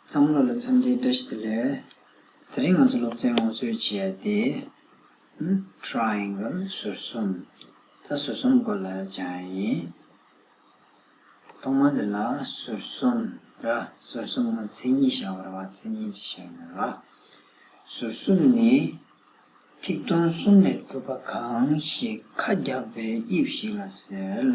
བསམ་བློ་ལ་འཚམས་འདྲིའི་བཀྲ་ཤིས་བདེ་ལེགས། དེ་རིང་ང་ཚོ་སློབ་ཚན་ངོ་སྤྲོད་བྱས་ཏེ། Triangle། ཟུར་གསུམ། ད་ཟུར་གསུམ་སྐོར་ལ་སྦྱངས་ཡིན། ཐོག་མ་འདི་ལ་ཟུར་གསུམ། ར། ཟུར་གསུམ་ངོ་མཚན་ཉིད་བྱ་བར་བ་མཚན་ཉིད་ཅིག་བྱ་ཡོད། ར། ཟུར་གསུམ་ནི། ཐིག་སྟོང་གསུམ་ལས་གྲུབ་པ་གང་ཞིག་ཁ་རྒྱག་པའི་དབྱིབས་ཤིག་ལ་ཟེར།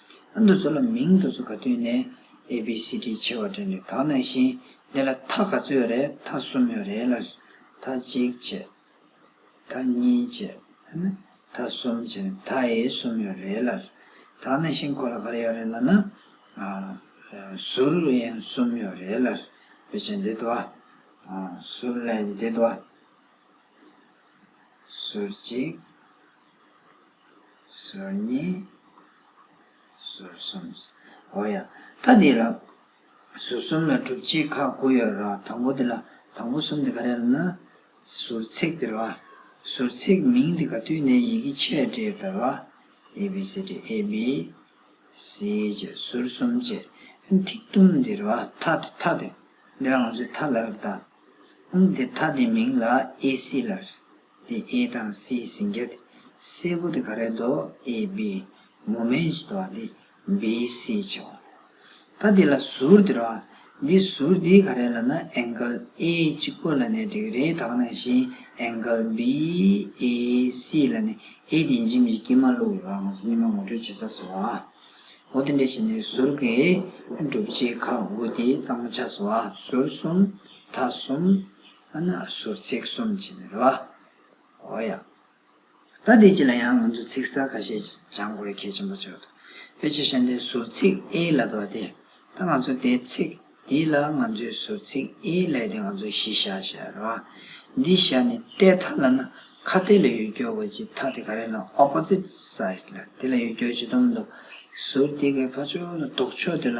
ཨ་འདུ་ཚོ་ལ་མིང་འདུ་ཚོ་ག་དུས་ནས A B C D ཆེ་བ་དྲན་ནས་དག་ན་བཞིན་འདི་ལ་ཐག་ག་ཚོད་ཡོད་རེད་ཐག་གསུམ་ཡོད་རེད་ལ། ཐག་གཅིག་བྱས། ཐག་གཉིས་བྱས། ཐག་གསུམ་བྱས་ནས་ཐག་ཨེ་གསུམ་ཡོད་རེད་ལ། དག་ན་བཞིན་གོ་ལ་ག་རེ་ཡོད་རེད་ལ་ན། ཟུར་ཨེ་གསུམ་ཡོད་རེད་ལ། བེད་སྤྱད་འདི་དུ་བ། ཟུར་ཨེ་འདི་དུ་བ། ཟུར་གཅིག། ཟུར་གཉིས། ཟུར་གསུམ། ཨོ་ཡ། ད་འདི་ལ། ཟུར་གསུམ་ལ་གྲུབ་ཆའི་ཁག་དགུ་ཡོད་ར་དང་པོ་འདི་ལ་དང་པོ་གསུམ་འདི་ག་རེད་ལ་ན། ཟུར་ཚེག་འདི་ར། ཟུར་ཚེག་མིང་འདི་ག་བསྟུན་ནས་ཡི་གེ་ཆས་འབྲེལ་ད་ར། ཨེ་བྷི་སི་ཏི་ཨེ་བྷི། སི་བཅས་ཟུར་གསུམ་བཅས། ཐིག་དུམ་འདི་ར་ཐ་དེ་ཐ་དེ། འདི་ར་ང་ཚོས་ཐ་ལ་ལབ་ད། འོང་འདི་ཐ་འདི་མིང་ལ་ཨེ་སི་ལ། ལི་ཨེ་དང་སི་སིང་གེ་ཏི་སེ་བོ་ཏི་ག་རེ་དོ་ཨེ་བི་མོ་མེན་ཞི་དོ་ཏི་བི་སི་ཆེ་བོ་ད་དེ་ལ་ཟུར་དེ་རོ་འདི་ཟུར་དེ་ག་རེ་ལ་ན་ཨེངཀལ་ཨེ་གཅིག་པོ་ལ་ནི་དྲེག་རེ་དག་ནང་བཞིན་ཨེངཀལ་བི་ཨེ་སི་ལ་ནི་ཨེ་དེ་འཇིམ་གྱི་དཀྱིལ་མ་ལུག་ལ་ང་ཚོ་སྙིང་མ་ངོ་སྤྲོད་བྱེད་ས་སོ་ཨོ་དེ་འདྲ་ཞིག་ནི་ཟུར་གི་སྒྲུབ་བྱེད་ཁག་དགུ་དེ་གཙང་མ་ཆགས་སོ་ཟུར་གསུམ་ཐ་གསུམ། ཨ་ནག་ཟུར་ཚེགས་གསུམ་ཅེས་པའི་རེ་བ། འོ་ཡ། ད་འདི་གཅིག་ལ་ཡང་ང་ཚོས་ཚིག་གསར་ཁ་ཤས་སྦྱང་དགོས་གལ་ཆེན་པོ་ཆགས་འདུག་ཕལ་ཆེར་ཤ་འདའི་ཟུར་ཚིགས་ཨེ་ལ་དོ་སྟེ། ད་ང་ཚོ་འདའི་ཚིག་འདི་ལ་ང་ཚོའི་ཟུར་ཚིགས་ཨེ་ལས་ཏེ་ང་ཚོ་གཞི་ཤ་ཞེས་པའི་རེ་བ། འདི་ཤ་ནི་ཏའི་མཐའ་ལ་ན་ཁ་ཏའི་ལ་ཡུལ་སྐྱོར་བའི་སྤྱི་མཐའ་དེ་ག་རེ་ན Opposite Side ལ་དེ་ལ་ཡུལ་སྐྱོར་བྱེད་དུམ་དུ་ཟུར་འདི་གའི་ཕ་ཆོ་ལ་ལྡོག་ཕྱོགས་དེ་ལ་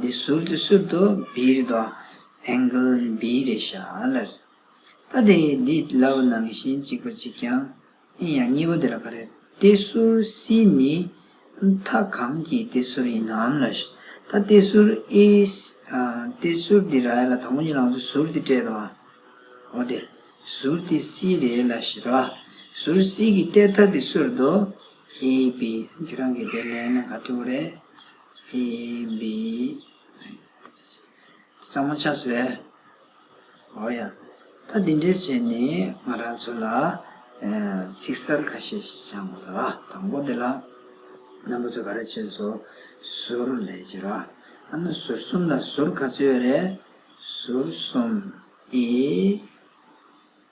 འདི་ཟུར་དུ་སུར་དུ་བིར་དོ། Angle Birish ད་དེ་འདི་ལའོ་ནང་བཞིན་གཅིག་པ་གཅིག་ཀྱང་ཨིན་ཡང་གཉིས་པོ་དེ་ལ་ག་རེ་ཏེ་ཟུར་སི་ནི་མཐའ་གང་གི་ཏེ་ཟུར་ཡིན་ནམ་ལས་ད་ཏེ་ཟུར་ཨི་ཏེ་ཟུར་དེ་ར་ཡ་ལ་དང་པོ་གཉིས་ལའང་ཚུ་ཟུར་དེ་སྤྲད་དོ། འོ་དེ་ཟུར་དེ་སི་རེ་ལ་ཞེས་ར་ཟུར་སི་གི་ཏེ་ད་དེ་ཟུར་དོ། ཨི་བི་ཁྱོད་རང་གི་དེ་ལན་ག་དྲི་བོ་རེད། བའི་བསམ་ངོ་ཆགས་སོ། ཨོ་ཡ། ད་འདི་འདྲའི་ཆས་ནི་ང་རང་ཚོ་ལ་ཚིག་གསར་ཁ་ཤས་སྦྱང་དགོས་ལ། དང་པོ་འདི་ལ་རྣམ་པ་ཚོ་ག་རེ་བྱེད་སོ། ཟུར་ལས་བྱེད་པ། ཨ་ན་ཟུར་གསུམ་ལ་ཟུར་ག་ཚོད་ཡོད་རེད། ཟུར་གསུམ། ཨེ།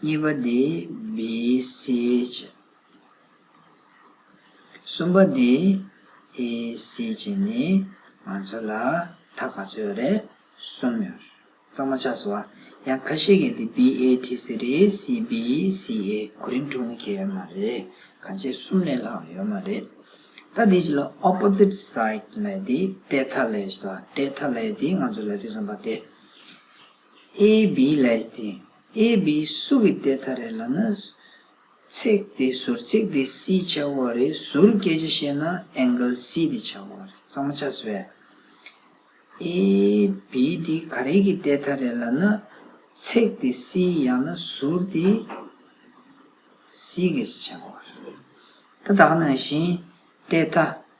གཉིས་པ་དེ་བི་སི་ཅི། གསུམ་པ་དེ་ཨི་སི་ཅི་ནི་ང་ཚོ་ལ་མཐའ་ག་ཚོད་རེ་གསུམ་ཡོད་རེད། གཙང་མ་ཆགས་སོ་ཨ། ཡང་ཁ་ཤས་ཀྱིས་དེ་བི་ཨེ་ཏི་སི་རེད་སི་བི་སི་ཨེ་གོ་རིམ་དྲུག་ནི་ཁྱད་མ་རེད་ག་ཚད་གསུམ་ལས་ལྷག་ཡོད་མ་རེད། ད་དེ་ཅི་ལ Opposite Side ལས་དེ་ཏེ་ཐ་ལས་ཞེས་དང་ཏེ་ཐ་ལས་དེ་ང་ཚོ་ལས་དུས་གསུམ་པ་སྟེ། ཨེ་བི་ལའི་སྟེ་ཨེ་བི་སུ་གི་སྟེ་ད་རེ་ལ་ན་ཚེག་དེ་ཟུར་ཚེག་དེ་སི་བྱ་བ་རེ་ཟུར་སྐད་ཆ་བཤད་ན angle སི་དེ་བྱ་བ་རེ་གཙང་མ་ཆགས་སི་བས་ཨེ་བི་དེ་ག་རེ་གི་སྟེ་ད་རེ་ལ་ན་ཚེག་དེ་སི་ཡང་ན་ཟུར་དེ་སི་སྐད་ཆ་བྱ་བ་རེ་ད་དག་ན་བཞིན་སྟེ་ད།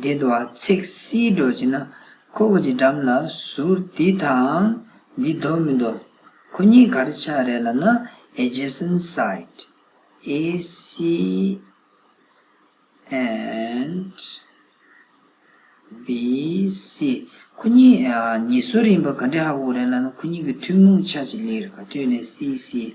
འདི་དུ་བ་ཚེག་བསིལ་སྒྲོ་བྱས་ན། ཁོ་བོ་ཀྱི་འགྲམ་ལ་ཟུར་འདི་དང། འདི་ལྡོག་མི་ལྡོག། ཁོ་གཉིས་གར་ཆགས་རེད་ལབ་ན Adjacent side ACNT BC ཁོ་གཉིས་ཉེ་ཟུར་ཡིན་པ་ག་འདྲའི་ཧ་གོ་རེད་ལབ་ན་ཁོ་གཉིས་ཀྱི་ཐུན་མོང་ཆ་གཅིག་ལེགས་རེད་ག་དུས་ནས CC།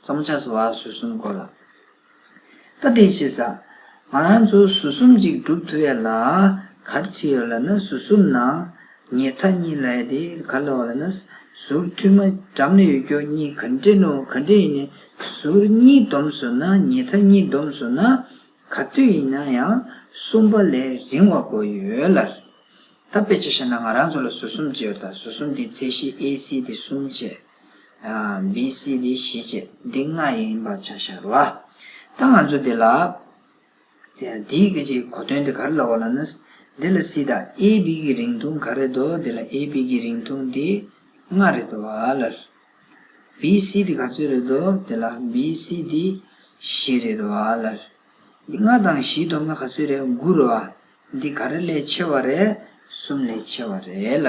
བཙོང་བྱ་སོགས་བར་ཟུར་གསུམ་བསྐོར་ལ། ད་དེ་ཤེས་ས། ང་རང་ཚོ་ཟུར་གསུམ་ཅིག་བསྒྲུབ་ཐུབ་ཡ་ལ། གར་ཁྲིད་ཡོད་ལ་ནི་ཟུར་གསུམ་ནང་ཉལ་མཐའ་གཉིས་ལ་ཡ་དེ་གར་ལ་བ་ལ་ན། ཟུར་ཐུས་མ་འགྲམ་ལ་ཡོད་སྐྱོར་གཉིས་གར་འདྲེན་ནོ་གར་འདྲེན་ཡིན་ན་ཟུར་གཉིས་བསྡོམས་སོ་ན་ཉལ་མཐའ་གཉིས་བསྡོམས་སོ་ན། གར་ཐུས་ཡིན་ན་ཡང་གསུམ་པ་ལས་རིང་བ་དགོས་ཡོད་ལ། ད་དཔེ་ཆ་བཤད་ན་ང་རང་ཚོ་ལ་ཟུར་གསུམ་བཅས་ཡོད་ད་ཟུར་གསུམ་དེའི་ཚད་གཞི་ཨེ་སི་དེ་གསུམ་བཅས་བྷི་སི་ལི་ཞི་བྱེད་འདི་ལྔ་ཡིན་པར་ཆ་ཤར་བ། ད་ང་ཚོ་འདི་ལ། དེའི་སྐད་ཆའི་གོ་དོན་དེ་ག་རེ་ལ་བ་ལ་ན། འདི་ལ་སི་དང་ཨེ་བྷི་ཀི་རིང་ཐུང་ག་རེ་དོ་འདི་ལ་ཨེ་བྷི་ཀི་རིང་ཐུང་འདི་ལྔ་རེ་དོ་བ་ལ། བྷི་སི་ལི་ག་ཚོད་རེ་དོ་འདི་ལ་བྷི་སི་ལི་བཞི་རེ་དོ་བ་ལ། འདི་ལྔ་དང་བཞིའི་སྡོམ་ན་ག་ཚོད་རེད་དགུ་རེད་བ། འདི་ག་རེ་ལས་ཆེ་བ་རེད་གསུམ་ལས་ཆེ་བ་རེད་ལ།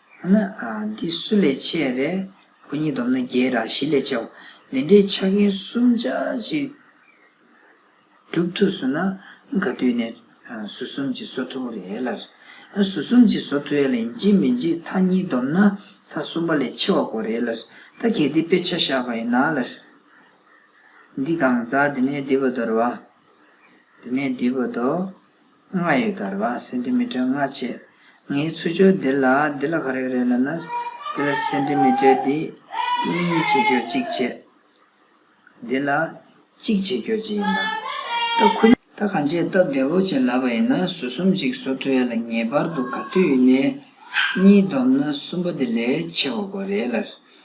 ཡང་ན། འདི་སུ་ལས་ཆེ་ཡང་རེ། བུ་གཉིས་བསྡོམས་ན་བརྒྱད་དང་བཞི་ལས་ཆེའོ། འདི་འདྲའི་ཆ་རྐྱེན་གསུམ་ཆ་གཅིག་གྲུབ་ཐུབ་སོང་ན། ག་དུས་ནས་སུ་གསུམ་གྱི་སོ་ཐུ་རེ་ཨེ་ལར། སུ་གསུམ་གྱི་སོ་ཐུ་ཨེ་ལ་ཡིན་གྱི་མི་འཇིག་མཐའ་གཉིས་བསྡོམས་ན་མཐའ་གསུམ་པ་ལས་ཆེ་བ་གོ་རེ་ཨེ་ལར། ད་གལ་ཏེ་དཔེ་ཆ་བཞག་པ་ཡིན་ན་ལར། འདི་གང་ཟག་འདི་ནས་འདི་བོ་དོར་བ། འདི་ནས་འདི་བོ་དོ། ལྔ་ཡོད་དར་བ་སེན་ཏི་མི་ཏྲར་ལྔ་བཅས། ངའི་ཚུར་སྦྱོར་འདི་ལ་འདི་ལ་ག་རེ་རེད་ལབ་ན། འདི་ལ་སེན་ཏི་མི་ཏྲར་འདི་གཉིས་བྱེད་སྐྱོ་གཅིག་བྱས། འདི་ལ་གཅིག་བྱེད་སྐྱོ་གཅིག་ཡིན་དང། སྟབས་ཁུ། ད་གང་བྱས་སྟབས་བདེ་བོ་བྱས་ལབ་པ་ཡིན་ན་ཟུར་གསུམ་གཅིག་བཟོ་ཐུབ་ཡ་ལ་ངེས་པར་དུ་ག་དུས་ཡུལ་ནས་གཉིས་བསྡོམས་ན་གསུམ་པ་དེ་ལས་ཆེ་བ་དགོས་རེད་ལ།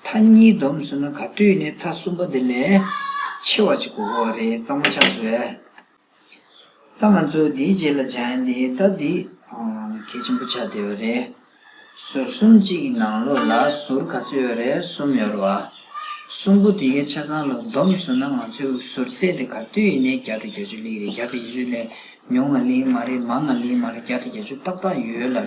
མཐའ་གཉིས་བསྡོམས་ཟེར་ན་ག་དུས་ནས་མཐའ་གསུམ་པོ་འདི་ལས་ཆེ་བ་ཅིག་གོ་གོ་བ་རེད་གཙང་མ་ཆགས་སོ། ད་ང་ཚོ་འདིའི་རྗེས་ལ་འཇང་ཡན་དེའི་རྟ་འདི་གལ་ཆེན་པོ་ཆགས་བསྡད་པ་རེད། ཟུར་གསུམ་གཅིག་གི་ནང་ལོགས་ལ་ཟུར་ག་ཚོད་ཡོད་རེད་གསུམ་ཡོད་རེད་བ། གསུམ་པོ་དེ་གའི་ཆ་ཚང་ལ་བསྡོམས་ཟེར་ན་ང་ཚོའི་ཟུར་ཚད་དེ་ག་དུས་ནས་བརྒྱ་དང་གྱ་བཅུ་ལིག་རེད་བརྒྱ་དང་བཞི་བཅུ་ལས་ཉུང་ང་ལིང་མ་རེད་མང་ང་ལིང་མ་རེད་བརྒྱ་དང་གྱ་བཅུ་ཏག་ཏག་ཡོད་ལ།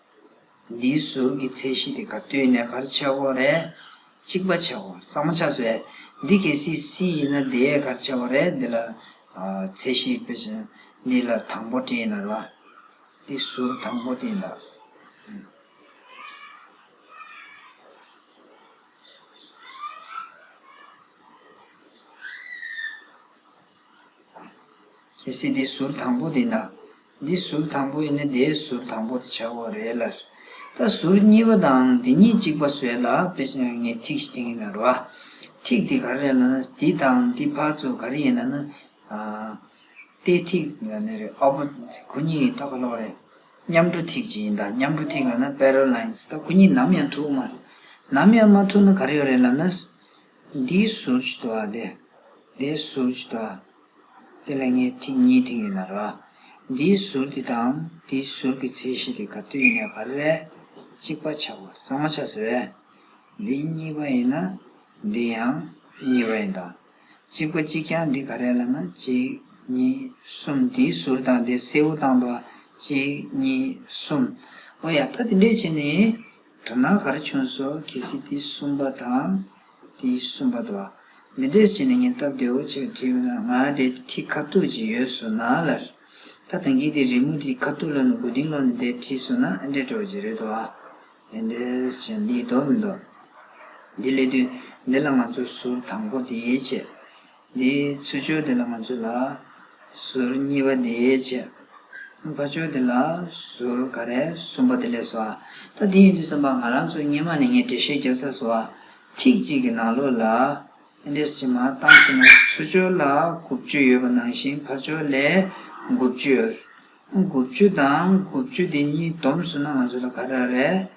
འདིའི་གཟུགས་ཀྱི་ཚད་གཞི་དེ་ག་དུས་ནས་གར་བྱའོ་རས་གཅིག་པ་བྱའོ་གཙང་མ་ཆགས་བས་འདི་གལ་སྲིད་སྲིད་ཡིན་ན་དེའི་གར་བྱའོ་རས་འདི་ལ་ཚད་གཞི་དཔེ་བྱིན་འདི་ལ་དང་པོ་དྲི་ཡིན་ལ་ར་འདི་གཟུགས་དང་པོ་དེ་ཡིན་ལ། གལ་སྲིད་དེའི་ཟུར་དང་པོ་དེ་ན། འདིའི་ཟུར་དང་པོ་ཡིན་ན་དེའི་ཟུར་དང་པོ་དེ་བྱ་བོ་རེད་ལ། ད་ཟུར་གཉིས་པ་དང་དེ་གཉིས་གཅིག་པ་བཟོས་ལ་དཔེ་བྱས་ན་ངས་ཐིག་ཤི་ཐིང་ཡིན་ན་རོ། ཐིག་དེ་ག་རེ་རེད་ལ་ན་འདི་དང་འདི་བར་ཚོ་ག་རེ་ཡིན་ལ་ན། ཏའི་ཐིག་ཡིན་ལ་ནི་རེད་ཨོ་པོ་གུ་གཉིས་ཡིན་ད་ག་ལོག་རེད། མཉམ་འགྲོ་ཐིག་ཅིག་ཡིན་ད་མཉམ་འགྲོ་ཐིག་ལ་ན parallel lines ད་གུ་གཉིས་ནམ་ཡང་ཐུག་མ་རེད། ནམ་ཡང་མ་ཐུག་ན་ག་རེ་ཡོད་རེད་ལ་ན། འདིའི་ཟུར་གྱི་དུ་བ་དེ། དེའི་ཟུར་གྱི་དུ་བ། དེ་ལ་ངས་ཐིག་གཉིས་མཐིང་ཡོད་ན་ར། འདིའི་ཟུར་དེ་དང་དེའི་ཟུར་གྱི་ཚད་གཞི་དེ་ག་དུས་ཡིན་ན་ག་རེ་རེད། གཅིག་པ་ཆགས་པ་གཙང་མ་ཆགས་ཟེར་བས། འདི་གཉིས་པ་ཡིན་ན། འདི་ཡང་གཉིས་པ་ཡིན་ད། གཅིག་པ་གཅིག་ཀྱང་འདི་ག་རེད་ལ་ན་གཅིག་གཉིས་གསུམ་དེའི་ཟུར་དང་དེ་སེའུ་དང་དུ་བ་གཅིག་གཉིས་གསུམ། ཨོ་ཡ་ད་དེ་འདྲས་བྱས་ནས། དོན་སྣང་ག་རེ་བྱུང་སོགས་གལ་སྲིད་དེ་གསུམ་པ་དང། དེ་གསུམ་པ་དང། མི་འདྲེས་བྱས་ནས་ཉེན་སྟབས་བདེ་བོ་ཅིག་ལ་ཁྲིད་ཡོང་ན་ང་དེ་ཁྲིད་ཁ་ཐུག་ཅིག་ཡོད་སོ་ན་ལ། ད་ཐེངས་ཀྱི་དེ་རི་མོ་དེ་ཁ་ཐུག་ལ་ནི་དགུ་ཏིང་ལོག་ནས་དེ་ཁྲིད་སོང་ན་ཨེ་འདྲས་བྲོ་ཅིག་རེད་དོ། ཨེ་འདྲས་བྱས་ན་འདི་ཡིད་དོ་མི་འདོ། འདི་སླེབས་དུས་འདི་ལ་ང་ཚོ་ཟུར་དང་པོ་དེའི་ཆེད་དེའི་ཚུལ་ཆོས་དེ་ལ་མ་ཚུད་ལ། ཟུར་གཉིས་པ་དེའི་བཅས་པ་ཆོས་དེ་ལ་ཟུར་ག་རེ་གསུམ་པ་དེ་ལས་སོ། ད་དེ་ཡིན་དུས་བསམ་པ་ང་རང་ཚོ་སྙེ་མ་ནས་ངས་འགྲེལ་བཤད་རྒྱག་ས་སུ། ཐིག་གཅིག་གི་ནང་ལོགས་ལ། འདིར་ཕྱི་མ་གཏང་ཟིན་ན་ཚུལ་ཆོས་ལ་དགུ་བཅུ་ཡོད་པ་ནང་བཞིན་ཕ་ཆོས་ལས་དགུ་བཅུ། དགུ་བཅུ་དང་དགུ་བཅུ་དེ་གཉིས་བསྡོམས་སུ་ན་ང་ཚོ་ལ་ག་རེ་རེད།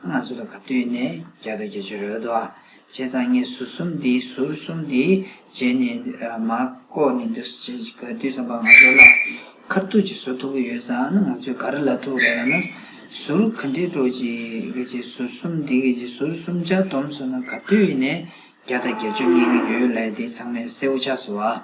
ང་ཚོ་ལ་ག་དུས་ནས་བརྒྱ་དང་བརྒྱད་ཅུ་རོལ་དུ་ཨ་ཅེ་ཚང་ངས་ཟུར་གསུམ་འདི་ཟུར་གསུམ་འདི་བརྗེས་ནས་མ་བཀོག་ནས་འདི་ག་དུས་ཙམ་པར་ང་ཚོ་ལ་ཁར་ཐུག་ཅིག་བཟོ་ཐུག་གི་ཡོད་ཙང་ང་ཚོས་ག་རེ་ལ་ཐུག་རེད་ལ་ན་ཟུར་ག་འདྲའི་སྒྲོག་ཅིག་གི་རྗེས་ཟུར་གསུམ་འདི་གི་རྗེས་ཟུར་གསུམ་ཆ་བསྡོམས་སུ་ན་ག་དུས་ནས་བརྒྱ་དང་བརྒྱད་ཅུ་ངེས་ཀྱི་ཡོད་ལས་དེ་ཚང་མས་གསལ་བོ་ཆགས་སོ་ཨ།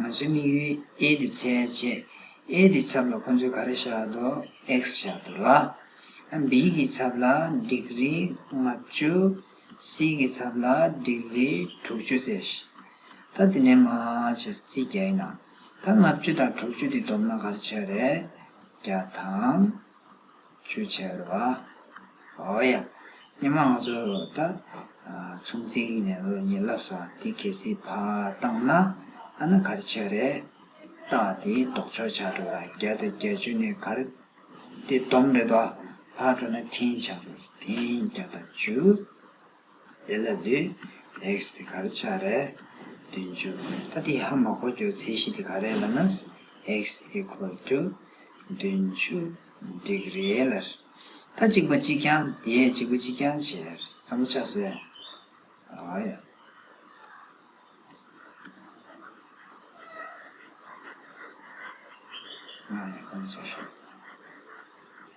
ང་ཚོའི་དམིགས་ཡུལ་ཨེ་དི་ཚའི་རྗེས་ཨེ་དི་ཚབ་ལ་ཁོང་ཚོས་ག་རེ་བཞག་འདུག X བཞག་འདུག་ལ། B གི་ཚབ་ལ Degree ལྔ་བཅུ C གི་ཚབ་ལ Degree དྲུག་བཅུ་བཙལ། ད་དེ་ནས་མ་བྱས་སོ་ཚིག་བརྒྱ་ཡིན་ན། ད་ལྔ་བཅུ་དང་དྲུག་བཅུ་དེ་བསྡོམས་ན་ག་རེ་བྱེད་རེད། བརྒྱ་དང། བྱས་པ། ཨོ་ཡ། སྙེ་མ་ང་ཚོ་ད་ཚོང་ཚིག་ནས་ཉེ་ལབ་ས་དེ་གལ་སྲིད་ཕ་བཏང་ན་ཨ་ན་གར་ཆས་རེད་བཏགས་དེ་ལྡོག་ཆོག་བྱ་འགྲོ་ར་བརྒྱ་དང་བརྒྱ་བཅུ་ནས་གར་དེ་སྡོམ་རེད་བ་ཕ་འགྲོ་ན་འཐེན་བྱ་འགྲོ་ར་འཐེན་བརྒྱ་དང་བཅུ། དེ་ལ་འདུས། next hit ག་རེ་ཆ་རེད། བདུན་བཅུ། ད་དེའི་ཧ་མ་གོ་གྱུར་ཚེ་ཤི་དེ་ག་རེད་ལ་ནས། ཨེགས equal to། བདུན་བཅུ། འགྲིག་རེད་ལ། ད་གཅིག་པ་གཅིག་རྐྱང་དེས་གཅིག་པོ་གཅིག་རྐྱང་བྱས། ཚ་མོ་ཆ་སོས། ཨ་ཡ།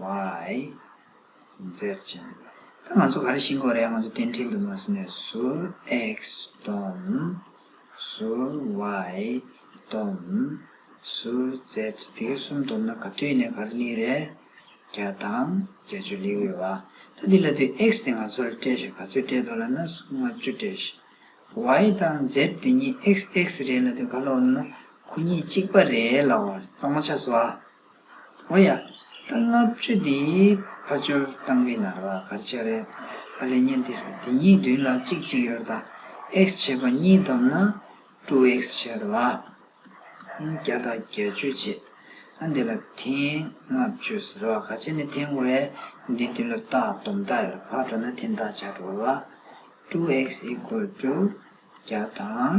ཝའི། མཛེས་ཅན། ད་ང་ཚོ་ག་རེ་ཤིང་གོ་རེད་ང་ཚོ་གཏན་ཁྲིད་འདུག་མ་སུ་ནས་ཟུར། ཨེག་སུ་དོམ། ཟུར། ཝའི། དོམ། ཟུར། མཛེས། དེ་གའི་གསུམ་བསྡོམས་ན་ག་དུས་ནས་ག་རེ་གླིང་རེད། བརྒྱ་དང། བརྒྱ་ཅུ་ལེའུ་ཡོད་བ། ད་འདི་ལ་དུས་ཨེག་སུ་དེ་ང་ཚོ་ལ་སྤྲད་ཤིག་ག་ཚོད་སྤྲད་འདུག་ལ་ན་སུ་ལྔ་བཅུ་སྤྲད་ཤིག། ཝའི། དང། མཛེས་དེ་གཉིས་ཨེག་སུ་ཨེག་སུ་རེད་ལ་དུས་ག་ལོག་ན་ན་ཁོ་གཉིས་གཅིག་པ་རེད་ལ་བར་རྩ་མོ་ཆགས་སོ། ཨོ་ཡ། ད་ལྔ་བཅུ་འདིའི་ཕ་ཆོལ་སྟངས་རིགས་ནང་ལ་གར་བྱེད་རེད་ཨ་ལས་ཉན་འདི་རེད་འདི་གཉིས་བདུན་ལ་གཅིག་གཅིག་ཡོར་ད་ཨེགས་བྱེད་པ་གཉིས་བསྡོམས་ན་དྲུག་ཨེགས་བྱེད་ལ། བརྒྱ་དང་བརྒྱད་བཅུ་བྱེད་ཨ་འདི་ལ་ཐེངས་ལྔ་བཅུ་ཟེར་བ་ག་བྱེད་ནས་ཐེངས་ཝེ་འདི་བདུན་ལ་བཏགས་བསྡོམས་ད་ཨེར་བར་འགྲོ་ན་ཐེངས་དག་བྱ་འགྲོ་ལ། དྲུག་ཨེགས་ཨི་ཀོལ་ཏུ་བརྒྱ་དང་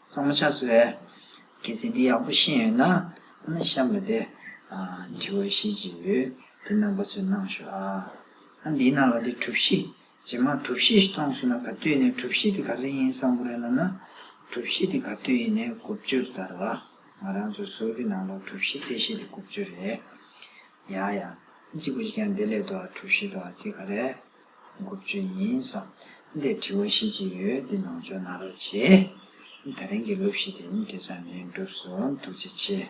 གཙང་མ་ཆགས་ཟེར་བས། གལ་སྲིད་འདི་ཡག་པོ་ཤེས་ཡོད་ན་ཨ་ན་ཤ་མི་བདེ། དྲི་བ་བཞི་ཅིག་ཡོད་དེ་ནང་པ་ཚོས་གནང་ཞོག་ཨ། ཨ་འདིའི་ནང་ལ་དེ་གྲུབ་གཞི། ཇེ་མང་གྲུབ་གཞི་ཞིག་གཏོང་སྲོལ་ན་ག་དུས་ནས་གྲུབ་གཞི་དེ་ག་རེ་ཡིན་བསམ་པོ་རེད་ལབ་ན། གྲུབ་གཞི་དེ་ག་དུས་ཡིན་ནས་དགུ་བཅུར་བསྟར་བ། ང་རང་ཚོ་ཟུར་གྱི་ནང་ལ་གྲུབ་གཞི་རྩེ་གཞི་དེ་དགུ་བཅུ་རེད། ཡ་ཡ། གཅིག་པུ་ཞིག་ཀྱང་དེ་ལས་ལྡོག་གྲུབ་གཞི་ལྡོག་དེ་ག་རེད། དགུ་བཅུ་ཡིན་བསམ། འདིར་དྲི་བ་བཞི་ཅི་ཡོད་འདི་ནང་ཆོས་ནང་རོལ་བྱེད། ད་རིང་གི་ལོ་བཞི་དེ་ཉིད་དེ་ཙམ་ནས་འགྲུབ་སོང་འདུག་ཅི་བྱེད།